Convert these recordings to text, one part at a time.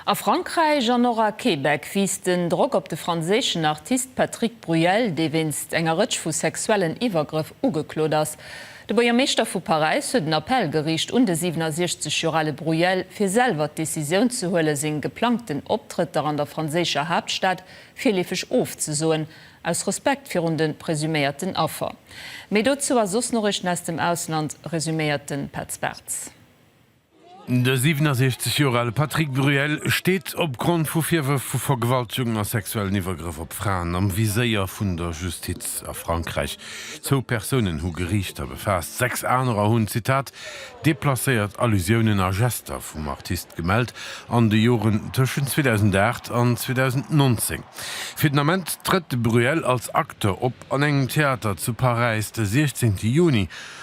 A Frankräich an och a Québec wiisst den Drock op de franséischen Artist Patrick Bruel, dee wéinst enger Rëtsch vu sexuellen Iwwergrëff ugeklot ass. De Buergermeeschter vu Paräis huet en Appell geriicht un de 67 Joer ale Bruel, fir selwer d'Decisioun ze huelen, seng geplangten Optrëtter an der franséischer Haaptstad virleefeg ofzesoen, aus Respekt virun de presuméierten Affer. Méi dozou a soss Noriichten aus dem Ausland resuméiert de Petz Bartz. De 67 Joer ale Patrick Bruel steet opgrond vu Virwërf vu Vergewaltegung a sexuellen Iwwergrëff op Fraen am Viséier vun der Justiz. A Frankräich zwou Persounen hu Geriichter befaasst, sechs anerer hunn, Zitat, deplacéiert Allusiounen a Gester vum Artist gemellt an de Joren tëschent 2008 an 2019. Fir den Ament trëtt de Bruel als Acteur op an engem Theater zu Paräis de 16 Juni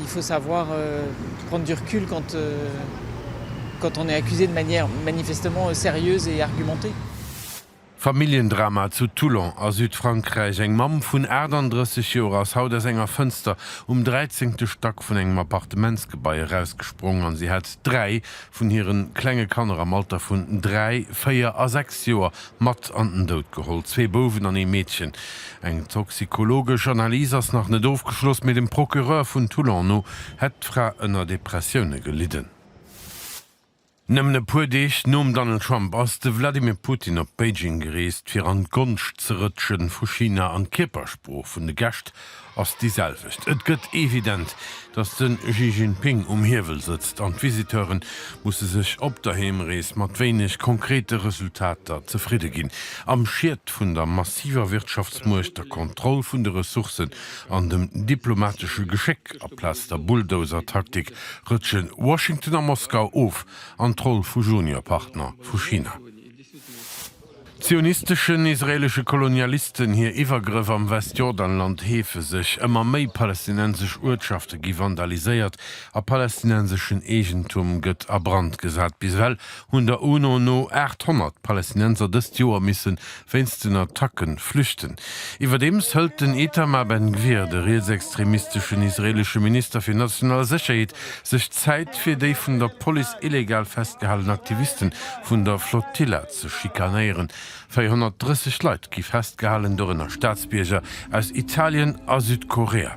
Il faut savoir prendre du recul quand quand on est accusé de manière manifestement sérieuse et argumentée. Familljendrama zu Toulon a Südfrankräich, Eng Mamm vun 38 Joer ass haut aus enger Fënster um dräizéngte Stack vun engem Appartementsgebai erausgesprongen an si hat dräi vun hire klenge Kanner am Alter vun dräi, véier a sechs Joer Mat an den Doud geholl, zwee Bouwen an ee Meedchen. Eng toxikologesch Analys ass nach net ofgeschloss, mee dem Procureur vun Toulon no hätt d'Fra ënner Depressioune gelidden. Nëmmen e puer Deeg nom Donald Trump ass de Vladimir Putin op Beijing gereest, fir an d'Gonscht ze rëtschen vu China an d'Kierpersprooch vun de Gäscht ass déi selwecht. Et gëtt evident, datt de Xi Jinping um Hiewel sëtzt an d'Visiteure musse sech op der Heemrees mat wéineg konkrete Resultater zefridde ginn, am Schied vun der massiver Wirtschaftsmuecht, der Kontroll vun de Ressourcen an dem diplomatesche Geschéck. Aplaz der Bulldozer-Taktik rëtsche Washington a Moskau of an d'Roll vu Junior-Partner vu China. Zionisteschen, israelesche Kolonialisten hir Iwwergrëff am Westjordanland heefe sech. Ëmmer méi palästinensesch Uertschafte gi vandaliséiert a palästinenseschen Eegentum gëtt a Brand gesat. Bis ewell hunn der UNO no 800 Palästinenser dëst Joer misse wéinst den Attacke flüchten. Iwwerdeems hëlt den Itamar Ben Gvir, de rietsextremisteschen israelesche Minister fir national Sécherheet, sech Zäit fir déi vun der Police illegal festgehalen Aktiviste vun der Flotilla ze schikanéieren. 430 Leit gi festgehalen, dorënner Staatsbierger aus Italien a Südkorea.